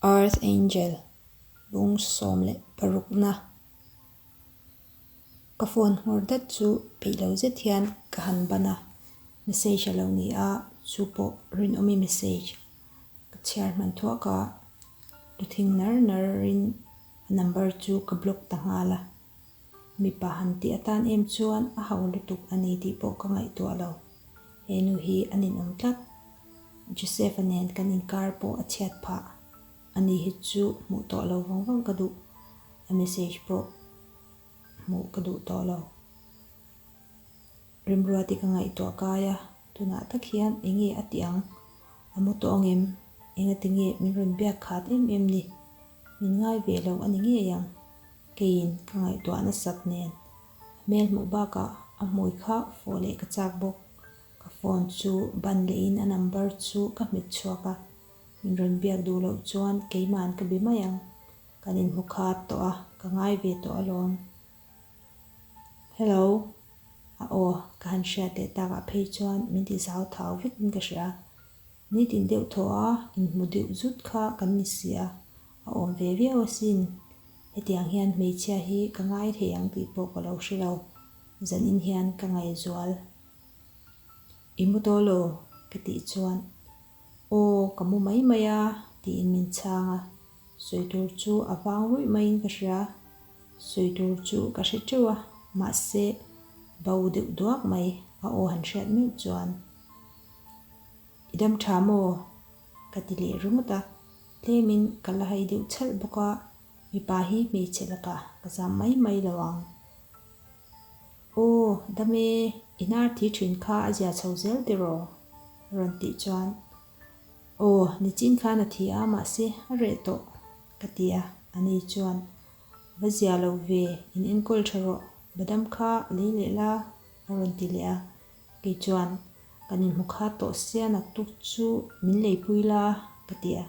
Earth Angel, Lung sawm leh parukna. Ka phone nghur dat chu peih lo zet hian ka han ban a, message a lo ni a, chu pawh rinawmi message. Ka chhiar hman thuah ka, lu thing nar nar in a number chu ka block ta nghal a. Mipa han tih atan em chuan a hau lutuk a ni tih pawh ka ngaihtuah lo. He nu hi an inawm tlat. Joseph-a nen kan inkar pawh a chhiat phah. A ni hi chu hmuh tawh lo vang vang ka duh. A message pawh hmuh ka duh tawh lo. Rimruati ka ngaihtuah kai a. Tunah tak hian enge a tih ang? A mu tawng em? Engati nge min rawn biak khat em em ni? Min ngai ve lo a ni ngei ang. Keiin ka ngaihtuah nasat nen a hmel hmuh bakah a hmui kha fo leh ka chak bawk. Ka phone chu ban lehin a number chu ka hmet chhuak a. Min rawn biak duh loh chuan keima'n ka be mai ang. Kan inhmu khat tawh a, ka ngai ve tawh alawm. Hello, a aw, ka han hriat leh takah phei chuan min ti zau thau vekin ka hria. Ni tin deuh thaw a, inhmu deuh zut kha kan ni si a, a awm ve viau asin. Hetiang hian hmeichhia hi ka ngai thei ang tih pawh ka lo hre lo, zan in hian ka ngaihzual. I mu tawh lo, ka tih chuan, Aw, ka mu mai mai a, tiin min chhang a. Sawi tur chu a vang ruih maiin ka hria. Sawi tur chu ka hre teuh a, mahse bo deuh duak mai a aw han hriat meuh chuan, I dam tha maw? ka ti leh ringawt a, tlemin ka la hai deuh chalh bawk a, mipa hi hmeichhe lakah ka zam mai mai lo ang. Aw dam e, inhar thih thin kha a zia chho zel tiraw? rawn tih chuan Aw, nichin kha na thi a, mahse a reh tawh, ka ti a. A ni chuan, Va zia lo ve, in enkawl tha rawh, va dam kha a lei leh la, a rawn ti leh a. Kei chuan, Kan inhmu kha tawh sia naktuk chu min leipui la, ka ti a.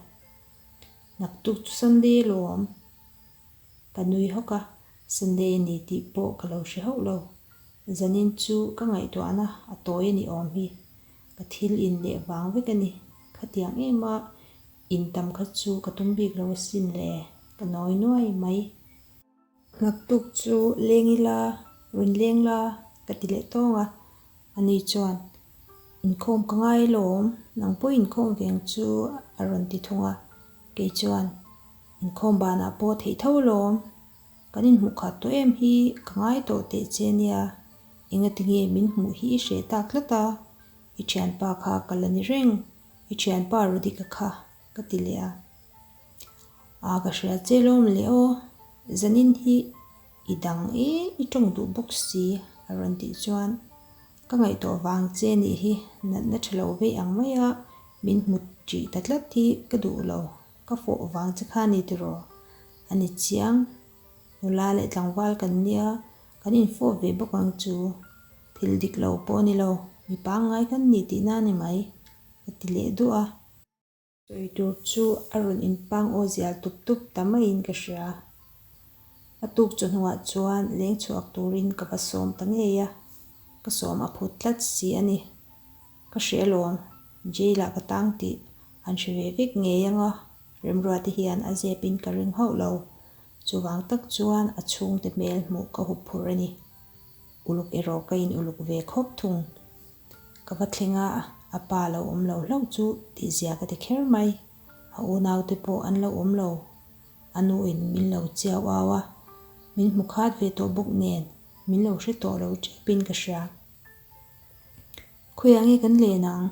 Naktuk chu Sunday lawm ka nui hawk a, Sunday a ni tih pawh ka lo hre hauh lo. Zanin chu ka ngaihtuahna a tawi a ni awm hi, Ka thil in leh vang vek a ni. Khatiang em a, in tam kha chu ka tum bik lo a sin le, ka nawi nuai mai. Ngaktuk chu leng ila, rawn leng la ka ti leh tawng a, a ni chuan, Inkhawm ka ngai lawm, nang pawh inkhawm veng chu a rawn ti thung a, kei chuan, Inkhawm banah pawh theih tho lawm, Kan inhmuhkhat tawh em hi ka ngai tawh teh che nia, enga tinge min hmuh hi i hreh tak tlat a, i thianpa kha ka la ni reng, i thianpa Radhika kha ka ti leh a. Aa ka hria che lawm le aw, zanin hi i dang e i tawng duh bawk si a rawn tih chuan ka ngaihtuah vang che nih hi natna tha lo vei ang mai a, min hmu tih ta tlat hi ka duh lo. Ka fawh vang che kha ni tiraw? A ni chiang. Nula leh tlangval kan nia, kan infawh ve bawk ang chu. Thil dik lo pawh a ni lo, mi pangngai kan ni tih nan em ai? Ka ti leh duah a. Sawi tur chu a rawn inpang aw zial tup tup ta maiin ka hria. A tuk chawhnuah chuan leng chhuak turin ka va sawm ta ngei a, ka sawm a phut tlat si a ni. Ka hre alawm, Jail ah ka tang tih an hre ve vek ngei ang a, Remrua te hian a zep in ka ring hauh lo, chuvang tak chuan a chhung te hmel hmuh ka hup phurh a ni, uluk erawh ka in uluk ve khawp thung, ka va thleng a, a pa lo awm lo hlauh chu tihzia ka ti kher mai, a unau te pawh an lo awm lo, a nu in min lo chiau au a, min hmu khat ve tawh bawk nen, min lo hre tawh lo tep in ka hria. Khawiah nge kan len ang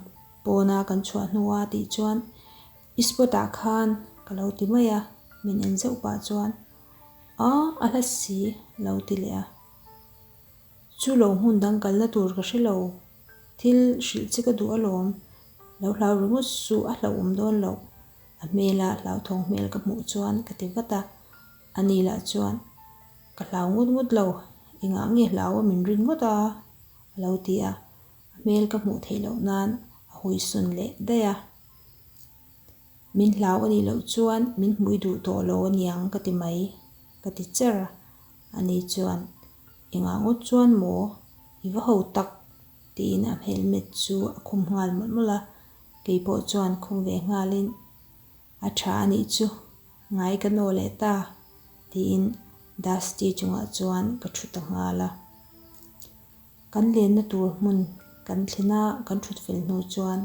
pawna kan chhuah hnu a tih chuan i spot ah khan ka lo ti mai a, min en zeuh pah chuan Aw a hla si lo ti leh a, chu lo hmun dang kalna tur ka hre lo, thil hrilh che ka duh alawm, lo hlau ringawt suh a hlauhawm dawn loh, a hmela hlauthawng hmel ka hmuh chuan ka ti vat a, a ni lah chuan. Ka hlau ngut ngut lo, engah nge hlau a min rin ngawt a? a lo ti a, a hmel ka hmuh theih loh nan a huisawn leh daih a. Min hlau a nih loh chuan min hmui duh tawh lo a niang ka ti mai, ka ti cher a, ani chuan engah ngawt chuan maw i va ho tak tiin a hmelmet chu a khum nghal mawlh mawlh a, kei pawh chuan khum ve nghalin. A tha anih chu, ngai ka naw leh ta, tiin Dusty chungah chuan ka thu ta nghal a. Kan lenna tur hmun kan thlen a, kan thut fel hnu chuan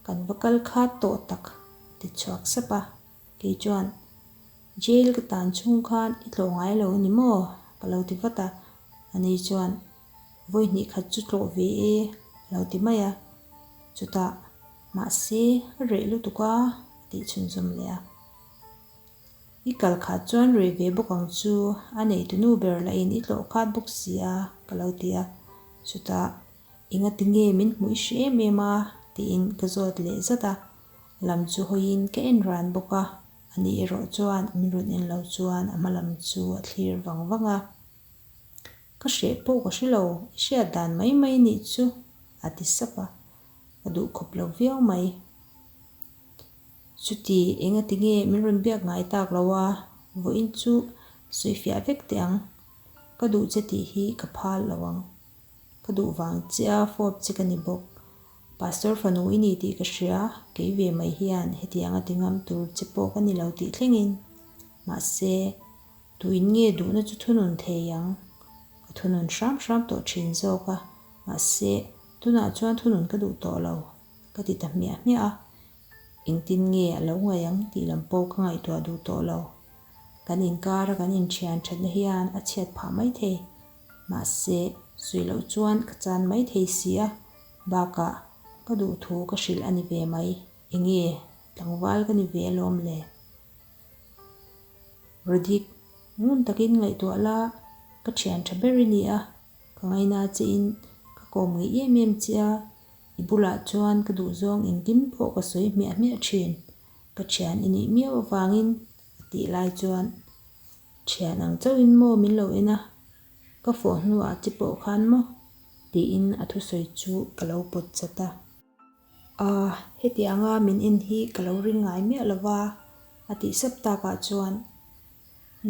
kan va kal khat tawh tak ti chhuak sap a, kei chuan, Jail ka tan chhung khan i tlawh ngai lo ni maw? ka lo ti vat a, ani chuan, Vawi hnih khat chu tlawh ve e lo ti mai a, chutah mahse a reh lutuk a, a tih chhunzawm leh a. I kal khat chuan reh ve bawk ang chu, a neitunu ber lahin i tlawh khat bawk si a, ka lo ti a, chutah enga ti nge min hmu i hre em em a tiin ka zawt leh zat a, lam chu hawiin ka en ran bawk a, a nih erawh chuan min rawn en lo chuan a hma lam chu a thlir vang vang a. Ka hreh pawh ka hri lo, i hriat dan mai mai nih chu, a ti sap a, ka duh khawp lo viau mai. Chuti enga ti nge min rawn biak ngai tak lo a, vawiin chu sawi fiah vek teh ang. Ka duh che tih hi ka phal lo ang. Ka duh vang chiah a, fawp che ka ni bawk. Pastor fanu i ni tih ka hria, kei ve mai hian heti anga ti ngam tur che pawh ka ni lo tih thlengin. Mahse. Tuin nge duhna chu thunun thei ang? Ka thunun hram hram tawh thin zawk a, mahse, tunah chuan thunun ka duh tawh lo, ka ti ta hmiah hmiah a. Engtin nge a lo ngaih ang tih lam pawh ka ngaihtuah duh tawh lo. Kan inkara kan inthian thatna hian a chhiat phah mai thei. Mahse, sawi loh chuan ka chan mai thei si a, bakah ka duh thu ka hrilh a ni ve mai. Enge tlangval ka ni ve alawm le? Radik, Ngun takin ngaihtuah la, ka thian tha ber i ni a, ka ngaina chiin ka kawm ngei em em che a, i bulah chuan ka duhzawng engkim pawh ka sawi hmiah hmiah thin, ka thian i nih miau avangin a tih lai chuan thian ang chauhin maw min lo en a, ka fawh hnuah che pawh khan maw? tiin a thusawi chu ka lo pawt chat a. A, hetianga min en hi ka lo ring ngai miah lo va, a tih sap tak ah chuan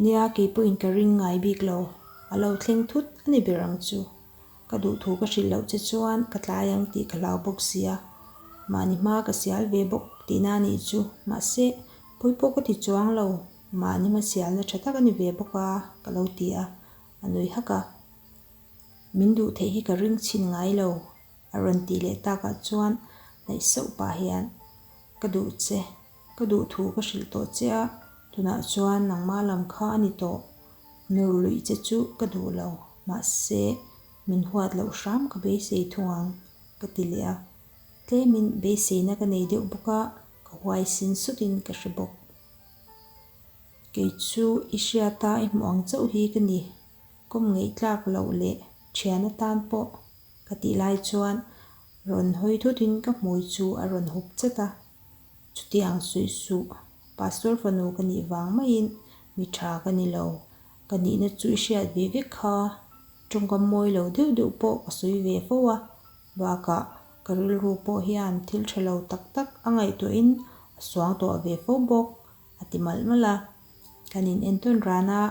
nia keipawhin ka ring ngai bik lo, a lo thleng thut a ni ber ang chu. Ka duhthu ka hrilh loh che chuan ka tlai ang tih ka hlau bawk sia, mahni hma ka sial ve bawk tihna a nih chu, mahse, pawi pawh ka ti chuang lo, mahni hma sialna tha tak a ni ve bawk a, ka lo ti a, a nui hak a, min duh theih hi ka ring chhin ngai lo, A rawn tih leh tak ah chuan naih sauh pah hian, Ka duh che, ka duh thu ka hrilh tawh che a, tunah chuan nangma lam kha a ni tawh, nur luih che chu ka duh lo, mahse min huat loh hram ka beisei thung ang, ka ti leh a. Tlemin beiseina ka nei deuh bawk a, ka huai sin sut in ka hre bawk. Kei chu i hria ta i hmuh ang chauh hi ka ni, kawm ngeitlak loh leh thian atan pawh. Ka tih lai chuan rawn hawi thut in ka hmui chu a rawn hup chet a. Chutiang suih suh, Pastor fanu ka nih vang mai in mi tha ka ni lo, ka nih na chu i hriat ve vek kha, tawngkam mawi lo deuh deuh pawh ka sawi ve fo a, bakah ka rilru pawh hian thil tha lo tak tak a ngaihtuah in a suang tawh ve fo bawk a ti malh malh a, kan in entawn ran a.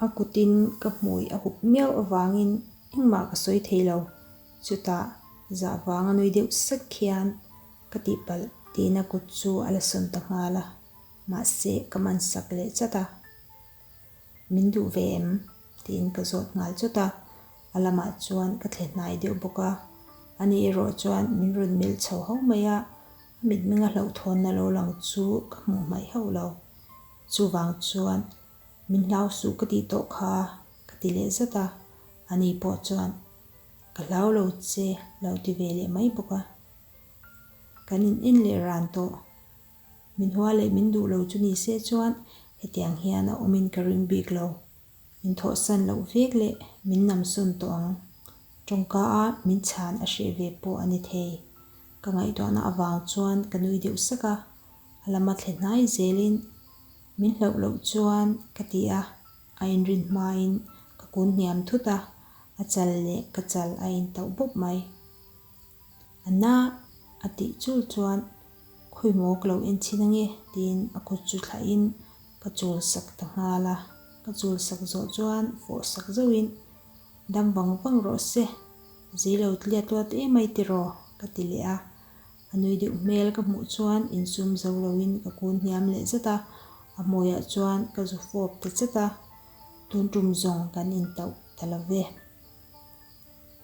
A kutin ka hmui a hup miau avangin engmah ka sawi thei lo. Chutah zah vang a nui deuh sek khian ka tihpalh tihna kut chu a la sawn ta nghal a, mahse ka man sak leh chat a. Min duh ve em? tiin ka zawt nghal chawt a, a lamah chuan ka thle hnai deuh bawk a. A nih erawh chuan min rawn melh chho ho mai a, a mitmeng a hlauhthawnna lo lang chu ka hmuh hmaih hauh lo. Chuvang chuan Min hlau suh ka tih tawh kha ka ti leh zat a, ani pawh chuan ka hlau lo che lo ti ve leh mai bawk a. Kan in en leh ran tawh, min hua leh min duh lo chu ni se chuan hetiang hian a awmin ka ring bik lo. Min thawhsan loh vek leh min nam sawn tawh ang, tawngka a min chhan a hreh ve pawh a ni thei. Ka ngaihtuahna avang chuan ka nui deuh sak a, a lama thlenai zelin Min hlauh loh chuan ka ti a, a inrin hmain ka kun hniam thut a, a chal leh ka chal a in tauh bawp mai. Anna a tih chul chuan khawi maw ka lo en chhin ange tiin a kut chu thlai in ka chul sak ta nghal a, ka chul sak zawh chuan fawh sak zauh in dam vang vang rawh se, zui lo tliat luat emai tiraw ka ti leh a. A nui deuh hmel ka hmuh chuan insum zo loin ka kun hniam leh zet a, a hmawihah chuan ka zu fawp ta zet a, tun tum zawng kan intauh ta lo ve.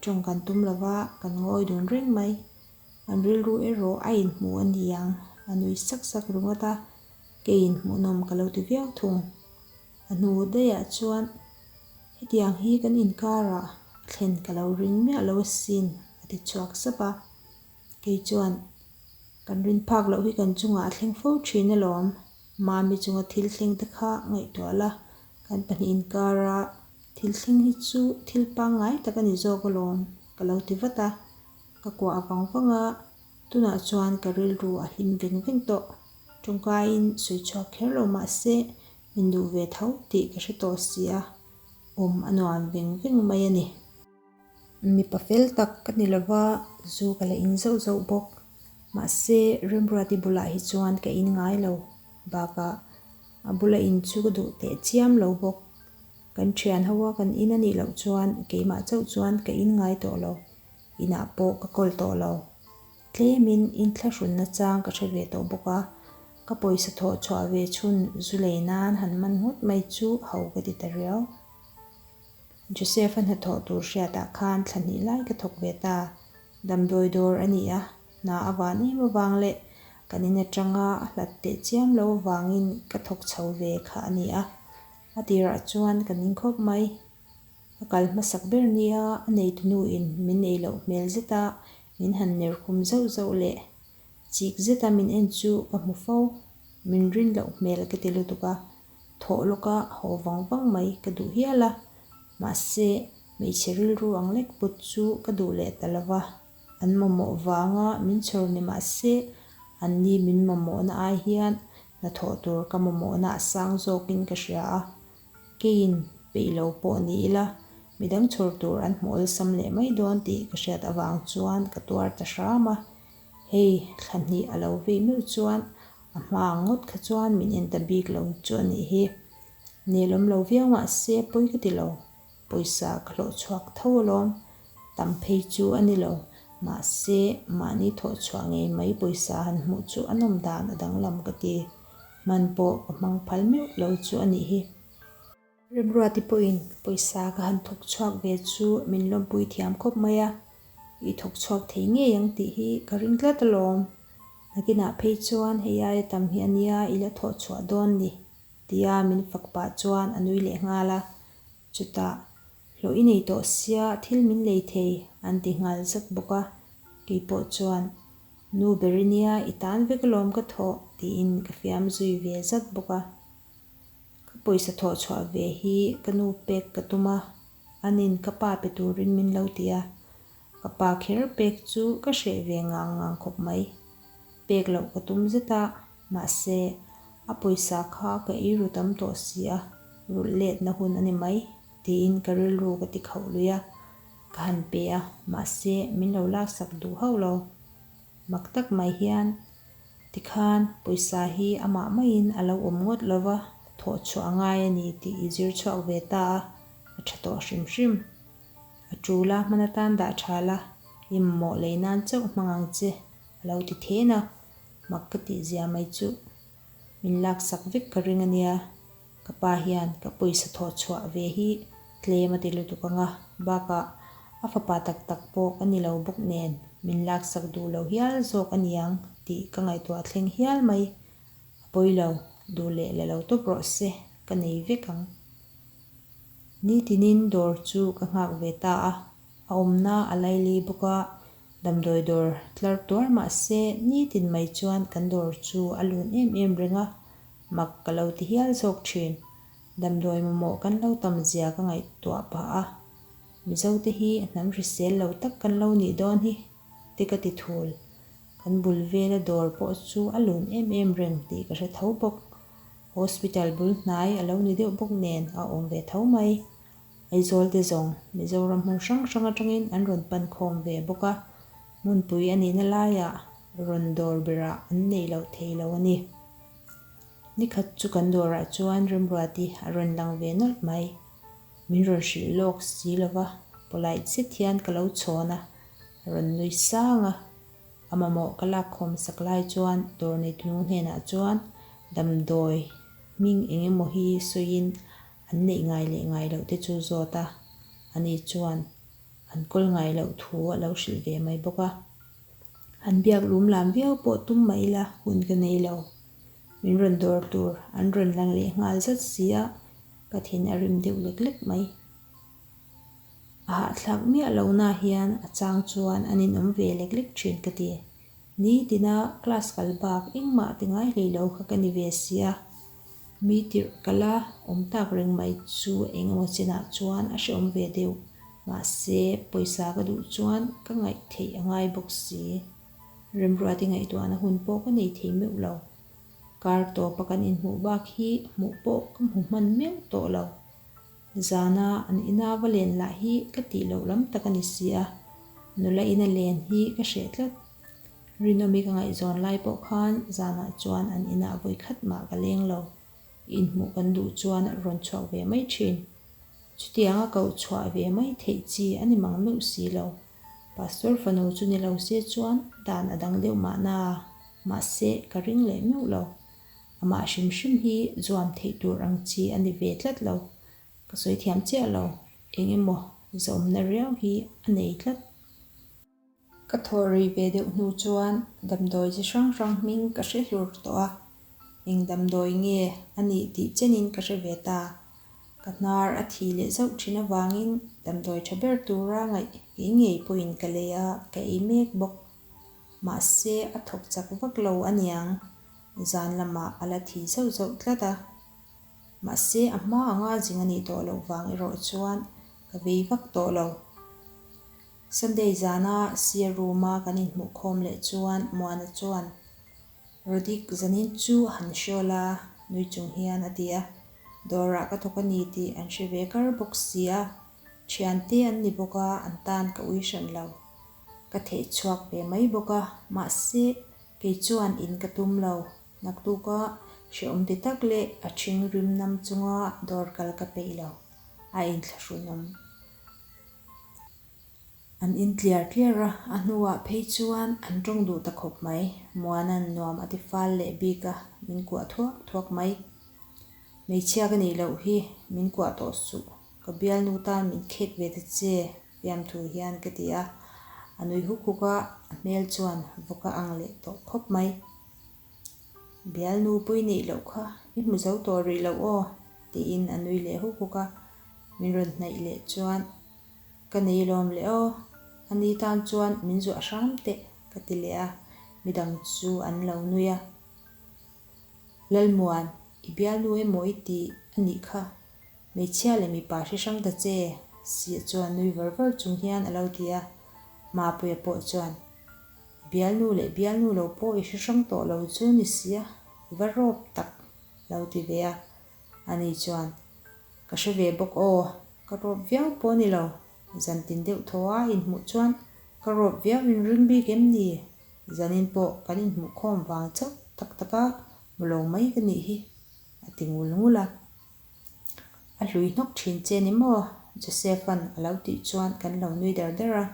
Tawng kan tum lo va, kan ngawi dun reng mai. An rilru erawh a inhmu a ni ang, a nui sak sak ringawt a, kei inhmuhnawm ka lo ti viau thung. A hnu daiah chuan hetiang hi kan inkarah a thlen ka lo ring miah lo asin, a ti chhuak sap a. Kei chuan kan rin phak loh hi kan chungah a thleng fo thin alawm. Mami chunga thil thleng te kha ngaihtuah la, kan pahnih inkar a, thil thleng hi chu thil pangngai tak a ni zawk alawm ka lo ti vat a, ka kuah vang vang a, tunah chuan ka rilru a hlim veng veng tawh. Tawngkaiin sawi chhuak kher lo mah se, min duh ve tho tih ka hre tawh si a, awm a nuam veng veng mai a ni. Mipa fel tak ka ni lova, zu ka la in zauh zauh bawk. Mahse, Remruati bulah hi chuan ka in ngai lo bakah a bula in chu ka duh teh chiam lo bawk. Kan thian ho a, kan in a nih loh chuan keimah chauh chuan ka in ngai tawh lo, inah pawh ka kawl tawh lo. Tlemin in thlahrunna chang ka hre ve tawh bawk a, ka pawisa thawh chhuah ve chhun zu lei nan han man nghut mai chu hau ka ti ta riau. Joseph-a hnathawh tur hriatah khan thla hnih lai ka thawk ve ta. Damdawi dawr a ni a, hna a van em avang leh kan in atanga a hlat teh chiam lo avangin ka thawk chho ve kha a ni a. A tirah chuan ka ning khawp mai. Ka kal hmasak ber nia a neitunuin min ei loh hmel zeta min han ner khum zauh zauh leh chik zeta min en chu ka hmu fo. Min rin loh hmel ka ti lutuk a. Thawh lawka haw vang vang mai ka duh hial a, mahse hmeichhe rilru ang lek put chu ka duh leh ta lo va, an mamawh vanga min chhawr ni mahse an ni min mamawhna ai hian hna thawh tur ka mamawhna a sang zawkin ka hria a, keiin peih lo pawh ni ila midang chhawr tur an hmawlsam leh mai dawn tih ka hriat avang chuan ka tuar ta hram a. Hei thla hnih a lo vei meuh chuan a hma ang ngawt kha chuan min en ta bik lo chu a nih hi. Nehlawm lo viau mah se pawi ka ti lo. Pawisa ka hlawh chhuak tho alawm. Tam phei chu a ni lo. Mahse, mahni thawh chhuah ngei mai pawisa han hmuh chu a nawm dan a danglam ka ti. Hman pawh ka hmang phal meuh lo chu a nih hi. Remruati pawhin pawisa ka han thawk chhuak ve chu min lawmpui thiam khawp mai a, i thawk chhuak thei ngei ang tih hi ka ring tlat alawm. Nakinah phei chuan hei aia tam hi a nia i la thawh chhuah dawn ni tia min fak pah chuan a nui leh nghal a, chutah Hlawh i nei tawh sia, thil min lei thei an ti nghal zat bawk a, kei pawh chuan Nu ber i nia i tan vek alawm ka thawh tiin ka fiam zui ve zat bawk a. Ka pawisa thawh chhuah ve hi ka nu pek ka tum a, anin ka pa pe turin min lo ti a, ka pa kher pek chu ka hreh ve ngang ngang khawp mai. Pek loh ka tum zet a, mahse, a pawisa kha ka ei ru tam tawh si a, rulh letna hun a ni mai, tiin ka rilru ka ti khauh lui a, ka han pe a, mahse, min lo laksak duh hauh lo. Mak tak mai hian tikhan pawisa hi amah maiin a lo awm ngawt lo va, thawh chhuah a ngai a ni tih i zir chhuak ve ta a, a tha tawh hrim hrim. A tul a, hman atan dah tha la, i mamawh lei nan chauh hmang ang che, a lo ti thin a. Mak ka tih zia mai chu, min laksak vek ka ring a nia. Ka pa hian ka pawisa thawh chhuah ve hi tlem a ti lutuk anga, bakah a fapa tak tak pawh ka ni lo bawk nen min laksak duh lo hial zawk a niang tih ka ngaihtuah a thleng hial mai. A pawi lo, duh leh la lo tawp rawh se, ka nei vek ang. Ni tinin dawr chu ka nghak ve ta a, a awmna a laili bawk a, damdawi dawr tlar tuar mah se ni tin mai chuan kan dawr chu a lun em em reng a, Mak ka lo ti hial zawk thin. Damdawi mamawh kan lo tam zia ka ngaihtuah pah a. Mizo te hi a hnam hrisel lo tak kan lo nih dawn hi te ka ti thul. Kan bul vela dawr pawh chu a lun em em reng tih ka hre tho bawk. Hospital bul hnai a lo ni deuh bawk nen a awm ve tho mai. Aizawl te zawng Mizoram hmun hrang hrang atangin an rawn pan khawm ve bawk a, hmunpui a nihna laiah rawn dawr berah an neih loh thei lo a ni. Ni khat chu kan dawrah chuan remruat i a rawn lang ve nawlh mai. Min rawn hrilh lawk si lo va, polite zet hian ka lo chhawn a, a rawn nui sang a. A mamawh ka lak khawm sak lai chuan dawr neitnu hnenah chuan damdawi hming eng emaw hi sawiin an neih ngai leh ngai loh te chu zawt a, ani chuan an kawl ngai loh thu a lo hrilh ve mai bawk a. An biak lum lam viau pawh tum mah ila hun ka nei lo. Min rawn dawr tur an rawn lang leh nghal zat sia ka thin a rim deuh lek lek mai. A hahthlak miah lo na hian a chang chuan an inawm ve lek lek thin ka ti. Ni tina class kal bak engmah ti ngai hlei lo kha ka ni ve sia. Mi tirhkala awm tak reng mai chu eng emaw chinah chuan a hreawm ve deuh, mahse pawisa ka duh chuan ka ngaih theih a ngai bawk si. Remruati ngaihtuahna hun pawh ka nei thei meuh lo. Kar tawpa kan inhmuh bak hi hmuh pawh ka hmu hman meuh tawh lo. Zana an ina va len lah hi ka tih loh lam tak a ni si a, nula ina len hi ka hreh tlat. Rinawmi ka ngaihzawn lai pawh khan zanah chuan an inah vawi khat mah ka leng lo. I inhmuh kan duh chuan a rawn chhuak ve mai thin. Chutiang a koh chhuah ve mai theih chi a ni mang meuh si lo. Pastor fanu chu ni lo se chuan dan a dang deuh mah na, mahse ka ring leh meuh lo. Amah hrim hrim hi zuam theih tur ang chi a ni ve tlat lo. Ka sawi thiam chiah lo, eng emaw zawmna riau hi a nei tlat. Ka thawh rei ve deuh hnu chuan damdawi chi hrang hrang hming ka hre hlur tawh a, eng damdawi nge a nih tih chenin ka hre ve ta. Ka hnar a thi leh zauh thin avangin damdawi tha ber tura ngaih ngei ngei pawhin ka lei a, ka ei mek bawk. Mahse a thawk chak vak lo a niang, zan lamah a la thi zauh zauh tlat a. Mahse a hma anga zing a nih tawh loh vang erawh chuan ka vei vak tawh lo. Sunday zana sir room-a kan inhmuh khawm leh chuan Muana chuan, Rodik, zanin chu han hria la, nui chung hian a ti a, dawrah ka thawk a ni tih an hre ve kar bawk sia, thian te an ni bawk a, an tan ka ui hran lo, ka theih chhuak ve mai bawk a, mahse, kei chuan in ka tum lo, naktuka hreawm ti tak leh a thing rimnam chunga dawr kal ka peih lo, a inthlahrunawm. An in tliar tliar a, a hnuah phei chuan an ṭawng duh ta khawp mai. Muana'n nuam a tifal leh bik a, min kuah thuak thuak mai. Hmeichhia ka nih loh hi, min kuah tawh suh, ka bialnu tan min khek ve ta che, Fiamthu hian ka ti a. A nui huk huk a, a hmel chuan vawk a ang leh tawh khawp mai. Bial nupui neih loh kha i hmu zo tawh rih loh aw, tiin a nui leh huk huk a, min rawn hnaih leh chuan, Ka nei lawm leh aw, ani tan chuan min zuah hram teh, ka ti leh a, midang chu an lo nui a, Lalmuan, i bialnu emaw i ti a nih kha, hmeichhia leh mipa hre hrang ta che, Sia chuan nui var var chung hian a lo ti a, Mapuia pawh chuan. Bialnu leh bialnu lo pawh i hrehrang tawh lo chu ni si a, va rawp tak lo ti ve a, a ni chuan ka hre ve bawk aw, ka rawp viau pawh ni lo, zan tin deuh thaw a inhmuh chuan ka rawp viau in ring bik em ni, zanin pawh kan inhmuh khawm vang chauh tak tak a, mu lo mai ka nih hi, a ti ngul ngul a. A hlui hnawk thin che ni maw? Joseph-a'n a lo tih chuan kan lo nui der der a.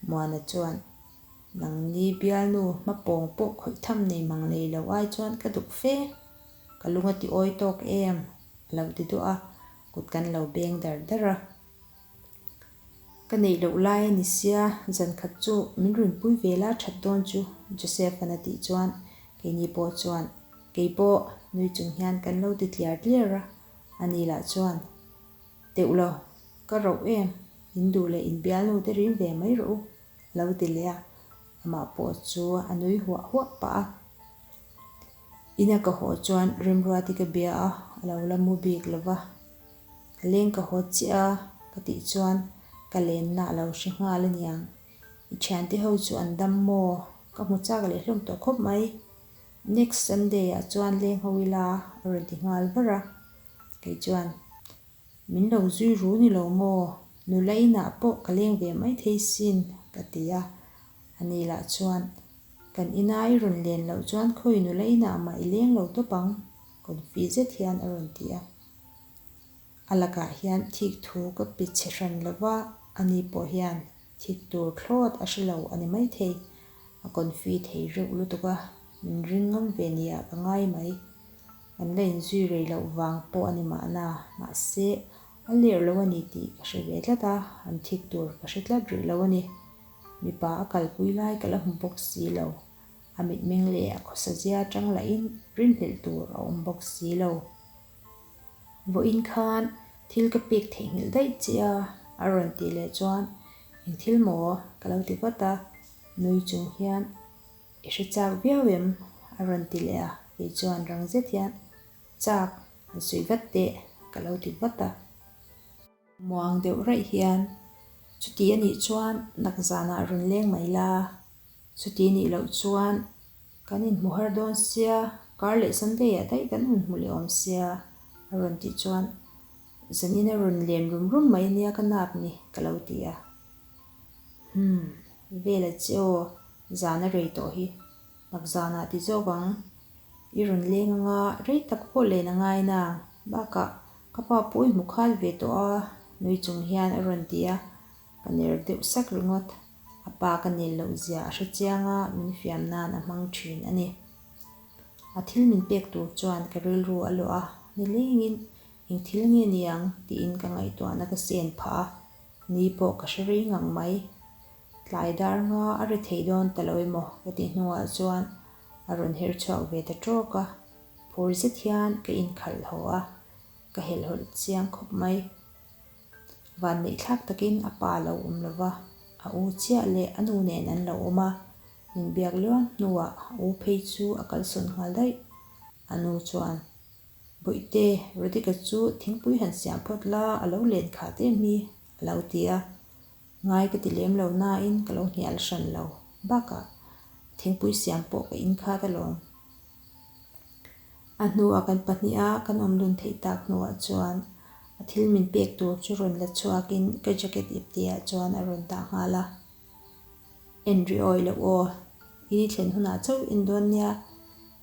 Muana chuan, Nangni bialnu hma pawng pawh khawih tham nei mang lei lo ai chuan ka duh fe. Ka lung a ti awi tawk em? A lo ti duah a, kut kan lo beng dar dar a. Ka neih loh lai a ni sia, zan khat chu min rinpui ve la that dawn chu, Joseph-a'n a tih chuan keini pawh chuan, Keipawh nui chung hian kan lo ti tliar tliar a, a nih lah chuan Teuh lo, ka rauh em, in duh leh in bial nu te rim ve mai rawh u, lo ti leh a, amah pawh chu a nui huah huah pah a. Ina ka haw chuan Remruat i ka bia a, a lo la mu bik lo va, ka leng ka haw chiah a, ka tih chuan ka lenna a lo hre nghal a niang, i thiante ho chu an dam maw, ka hmu chak leh hlawm tawh khawp mai, next Sunday ah chuan leng ho ila a rawn ti nghal var a. Kei chuan, Min lo zui ru ni lo maw? Nula inah pawh ka leng ve maithei sin, ka ti a. A nih lah chuan, Kan ina i rawn len loh chuan khawi nula inah mah i leng lo tawp ang, kawn fih zet hian a rawn ti a. A lakah hian thik thu ka pe chhe hran lo va, ani pawh hian thik tur thlawt a hre lo a ni maithei. A kawn fih thei reuh lutuk a, min ring ngam ve nia ka ngai mai. Kan la inzui rei loh vang pawh a ni mahna, mahse, a ler lo a ni tih ka hre ve tlat a, an thik tur ka hre tlat rih lo a ni. Mipa a kalpui lai ka la hmu bawk si lo, a mitmeng leh a khawsa zia atang lahin rinhlelh tur a awm bawk si lo. Vawiin khan thil ka pek theihnghilh daih che a, a rawn tih leh chuan, Eng thil maw? ka lo ti vat a, nui chung hian. I hre chak viau em? A rawn ti leh a, kei chuan rang zet hian, Chak, han sawi vat teh, ka lo ti vat a. Muang deuh raih hian, Chuti a nih chuan nak zanah rawn leng mai la, chuti nih loh chuan kan inhmu har dawn sia, kar leh Sunday ah daih kan hun hmu leh awm sia, a rawn tih chuan, Zanina rawn len rum rum mai ania ka nak ni, ka lo ti a. Hum, vela che aw, zan a rei tawh hi. Takzanah ti zawk ang. I rawn leng anga rei tak pawh len a ngai na. Bakah ka pa pawh i hmu khal ve tawh a, nui chung hian a rawn ti a. Ka ner deuh sak ringawt. A pa ka nel loh zia a hre chiang a, min fiam nan a hmang thin a ni. A thil min pek tur chuan ka rilru a lawh a, nilengin engthil nge ni ang tiin ka ngaihtuahna ka sen phah a. Ni pawh ka hre rei ngang mai. Tlai dar nga a ri thei dawn ta lo emaw ka ti hnungah chuan a rawn her chhuak ve ta trawk a, phur zet hian ka inkhalh haw a, ka helh hawlh chiang khawp mai. Van neih thlak takin a pa lo awm lova, a u chiah leh a nu nen an lo awm a, min biak luang hnuah u phei chu a kalsawn nghal daih. A nu chuan. Bawihte, Radhika chu thingpui han siam phawt la, a lo len khah teh mi, a lo ti a. Ngai ka ti lem lo nain ka lo hnial hran lo bakah thingpui siam pawh ka inkhat alawm. A hnuah kan pahniha kan awm lun theih tak hnuah chuan a thil min pek tur chu rawn la chhuakin ka jacket iptihah chuan a rawn dah nghal a. En ri awih loh aw, i ni thlen hunah chauh in dawn nia,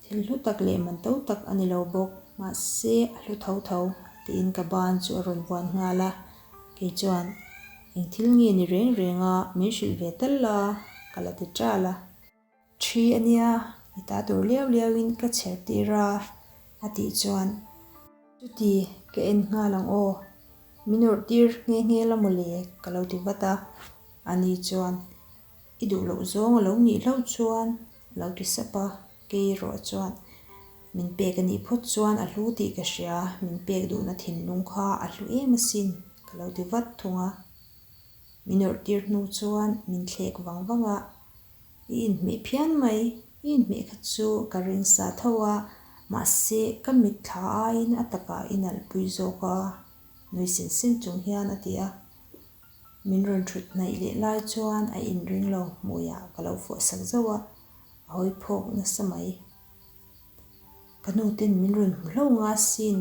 thil hlu tak leh man to tak a ni lo bawk, mahse a hlu tho tho, tiin ka ban chu a rawn vuan nghal a, kei chuan eng thil nge ni reng reng a, min hrilh ve tal la, ka la ti tal a. Ṭhi a nia, i ta tur liau liauin ka chher tir a, a tih chuan. Chuti ka en nghal ang aw, min rawrh tir nghe nghe la maw le? ka lo ti vat a, a ni chuan, I duh loh zawng a lo nih hlauh chuan a lo ti sap a, kei erawh chuan min pek a nih phawt chuan a hlu tih ka hria, min pek duhna thinlung kha a hlu em asin ka lo ti vat thung a, min rawrh tir hnu chuan min thlek vang vang a, I inhmeh phian mai. I inhmeh kha chu ka rinsa tho a, mahse ka mitthla aiin a taka i nalhpui zawk a, nui sin sin chung hian a ti a. Min rawn thut hnaih leh lai chuan a inring lo hmuiah ka lo fuah sak zauh a, a hawi phawk nasa mai. Ka nu ten min rawn hmu hlauh nga sin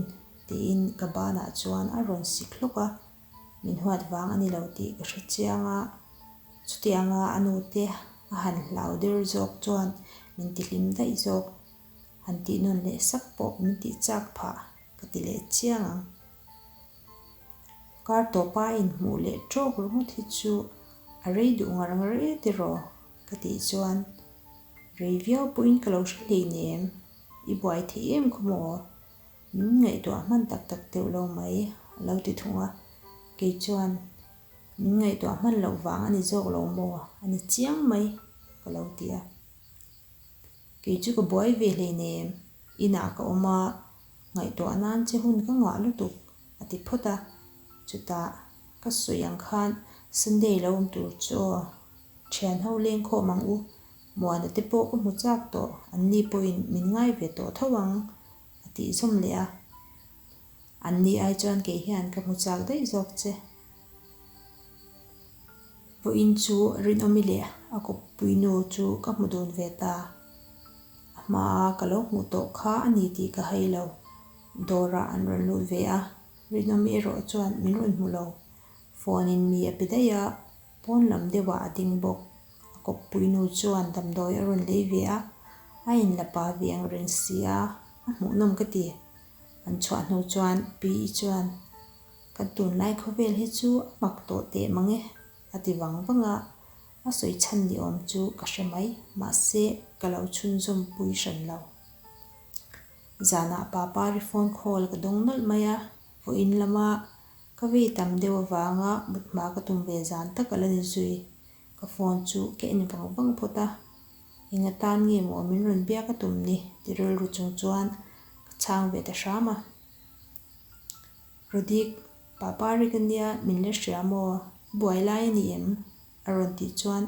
tiin ka banah chuan a rawn sik hlawk a. Min huat vang a ni lo tih ka hre chiang a, chuti anga a nu te a han hlau der zawk chuan min ti hlim daih zawk, han tih nawn leh sak pawh min tih chak phah ka ti leh chiang ang. Kar tawpa in hmuh leh trawk ringawt hi chu a rei duh ngar ngar e tiraw ka tih chuan rei viau pawhin ka lo hre hleinem, i buai theih em khawmaw? Min ngaihtuah hman tak tak deuh lo mai a lo ti thung a, kei chuan min ngaihtuah hman loh vang a ni zawk lo maw, a ni chiang mai ka lo ti a. Kei chu ka buai ve hlein em, inah ka awm a, ngaihtuah nan che hun ka nghah lutuk a ti phawt a. Chutah ka sawi ang khan, Sunday lo awm tur chu aw, thianho leng khawm ang u, Muana te pawh ka hmu chak tawh, an ni pawhin min ngai ve tawh tho ang, a tih zawm leh a. An ni ai chuan kei hian ka hmu chak daih zawk che. Puiin chu Rinawmi leh a kawppui nu chu ka hmu dun ve ta. A hma a ka lo hmuh tawh kha a ni tih ka hai lo. Dawrah an rawn lut ve a, Rinawmi erawh chuan min rawn hmu lo. Phone in mi a pe daih a. Pawn lam deuhah a ding bawk. A kawppui nu chuan damdawi a rawn lei ve a, a in la pa ve ang reng si a, a hmuhnawm ka ti. An chhuah hnu chuan Pi i chuan, Kan tunlai khawvel hi chu a mak tawh teh mang e, a ti vang vang a, a sawi chhan ni awm chu ka hre mai, mahse ka lo chhunzawm pui hran lo. Zanah Papa ri phone call ka dawng nawlh mai a, vawiin lama. Ka vei tam deuh avanga mut hma ka tum ve zan tak a la ni zui. Ka phone chu ka en vang vang phawt a, eng a tan nge maw min rawn biak a tum ni tih rilru chung chuan ka chhang ve ta hram a. Rodik, Papa Rik a nia min la hria maw, i buai lai a ni em? a rawn tih chuan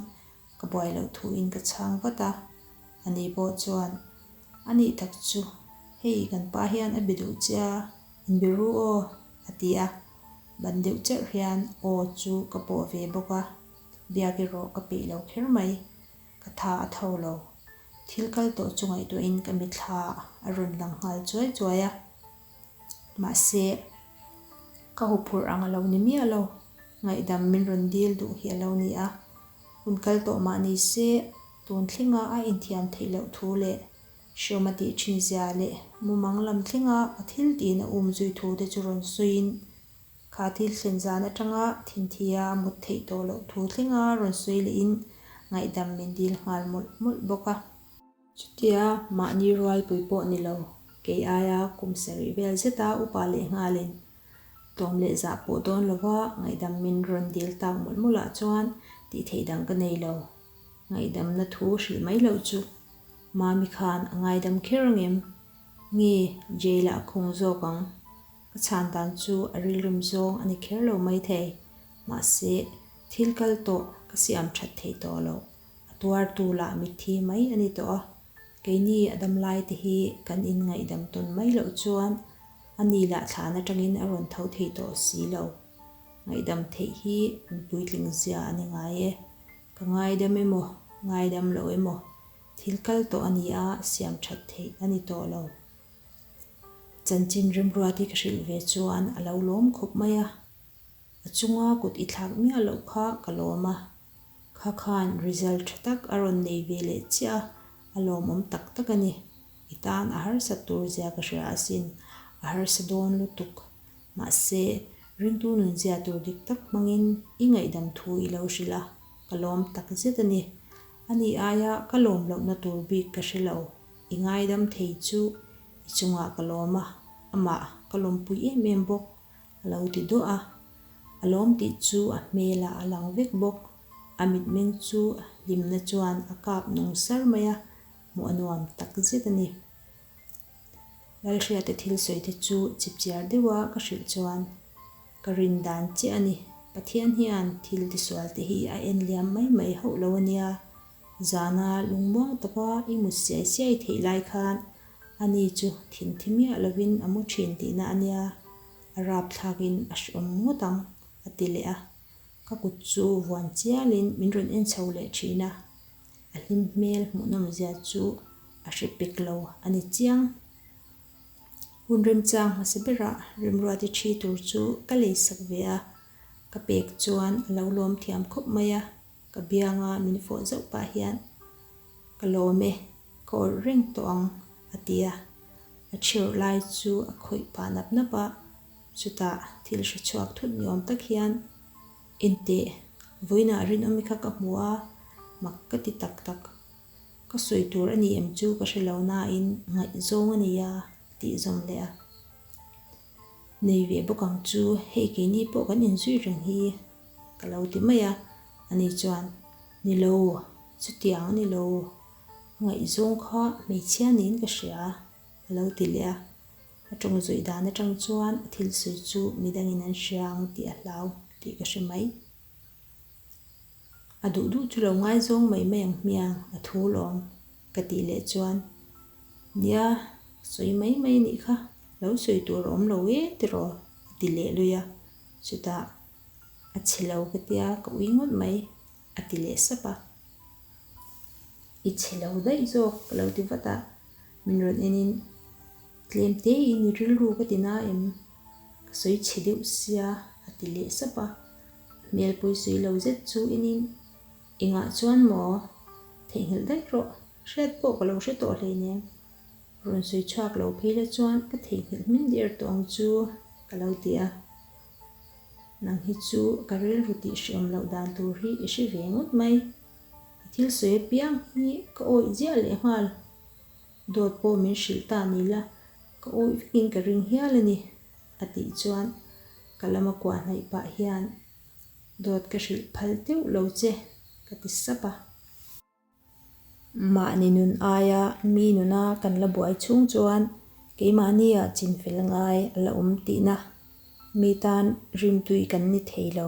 ka buai loh thu in ka chhang vat a, a ni pawh chuan, A nih tak chu, hei kan pa hian a be duh che a. In be ru aw, a ti a, ban deuh cherh hian aw chu ka pawh ve bawk a, biak erawh ka peih lo kher mai, ka tha a tho lo. Thil kal tawh chu ngaihtuahin ka mitthla a rawn lang nghal chuai chuai a, mahse ka huphurh ang a lo ni miah lo, ngaihdam min rawn dil duh hi a lo ni a, hun kal tawh mah ni se, tun thlinga a inthiam theih loh thu leh Hriawma tih ṭhinzia leh mumang lam thlenga a thiltihin a um zui thu te chu rawn sawiin kha thil thlen zan aṭanga thinthia a mut theih tawh loh thu thlenga rawn sawi lehin ngaihdam min dil nghal mawlh mawlh bawk a. Chutia mahni rualpui pawh ni lo kei aia kum sa rih vel zeta upa leh nghalin tlawm leh zah pawh dawn lova ngaihdam min rawn dil tak mawlh mawlh ah chuan tihtheih dang ka nei lo. Ngaihdamna thu hrih mai loh chu Mami khan a ngaidam kher angem? Nge jail ah a khung zawk ang? Ka chhan dan chu a rilrim zawng a ni kher lo mai thei. Mahse, thil kal tawh ka siam that thei tawh lo. A tuar tu lah mitthi mai a ni tawh a. Keini a dam lai te hi kan in ngaihdam tawn mai loh chuan ani lah thlan atangin a rawn tho thei tawh si lo. Ngaihdam theih hi an puitling zia a ni ngai e. Ka ngaidam emaw, ngaidam lo emaw, thil kal tawh a ni a, siam that theih a ni tawh lo. Chanchin rimruat hi ka hrilh ve chuan a lo lawm khawp mai a. A chunga kut i thlak miah loh kha ka lawm a. Kha khan result tha tak a rawn nei ve leh chiah a, a lawmawm tak tak a ni. I tan a harsat tur zia ka hria asin, a harsa dawn lutuk. Mahse, ringtu nun zia tur dik tak hmangin i ngaihdam thu i lo hrilh a, ka lawm tak zet a ni. A nih aia ka lawm lohna tur bik ka hre lo, i ngaidam thei chu i chungah ka lawm a, amah ka lawmpui em em bawk, a lo ti duah a. A lawm tih chu a hmelah a lang vek bawk, a mitmeng chu hlimna chuan a kap nung sar mai a, hmuh a nuam tak zet a ni. Lalhriate thil sawite chu chhip chiar deuha ka hrilh chuan ka rin dan chiah a ni. Pathian hian thil tisual te hi a en liam mai mai hauh lo a nia. Zana lungmuang taka i mut siai siai theih lai khan a ni chu thin thi miah lovin a mu thin tihna a nia. A rapthlakin a hriawm ngawt ang, a ti leh a. Ka kut chu vuan chialin min rawn en chho leh thin a, a hlim hmel hmuh nawm zia chu a hre pek lo a ni chiang. Hun remchang hmasa berah Rimruati thi tur chu ka lei sak ve a, ka pek chuan a lo lawm thiam khawp mai a, ka bianga min fawh zauh pah hian Ka lawm e, ka awrh reng tawh ang a ti a, a chhirh lai chu a khawih pah nap nap a. Chutah thil hre chhuak thut ni awm tak hian intih vawiinah rinawmi kha ka hmu a, mak ka ti tak tak. Ka sawi tur a ni em chu ka hre lo nain ngaihzawng a nia tih zawm leh a nei ve bawk ang chu hei keini pawh kan inzui reng hi ka lo ti mai a, ani chuan ni lo chutiang a ni lo ngaihzawng kha hmeichhia niin ka hria a lo ti leh a, A ṭawng zawih dan aṭang chuan a thil sawi chu mi dangin an hria ang tih a hlau tih ka hre mai. A duh duh chu lo ngaizawng mai mai ang hmiang a thu lawm ka tih leh chuan nia sawi mai mai anih kha lo sawi tur awm lo e tiraw a ti leh lui a. Chutah a chhe lo ka tia ka ui ngawt mai a ti leh sap a. I chhe lo daih zawk ka lo ti vat a. Min rawn enin tlem teiin i rilru ka ti na em? Ka sawi chhe deuh sia, a ti leh sap a. Hmelpui sawi lo zet chu enin, Engah chuan maw? Theihnghilh daih rawh, hriat pawh ka lo hre tawh hlei nen. Rawn sawi chhuak lo phei la chuan ka theihnghilh hming der tawh ang chu, ka lo ti a. Nang hi chu ka rilru tih hriawm loh dan tur hi i hre ve ngawt mai. I thil sawi apiang hi ka awih ziah lehnghal Dawt pawh min hrilh ta ni la, ka awih vekin ka ring hial a ni, a tih chuan ka lam a kuahnaih pah hian, Dawt ka hrilh phal teuh lo che, ka ti sap a. Mahni nun aia mi nuna kan la buai chhung chuan keimahnia chin fel ngai a la awm tihna mi tan rimtui kan ni thei lo.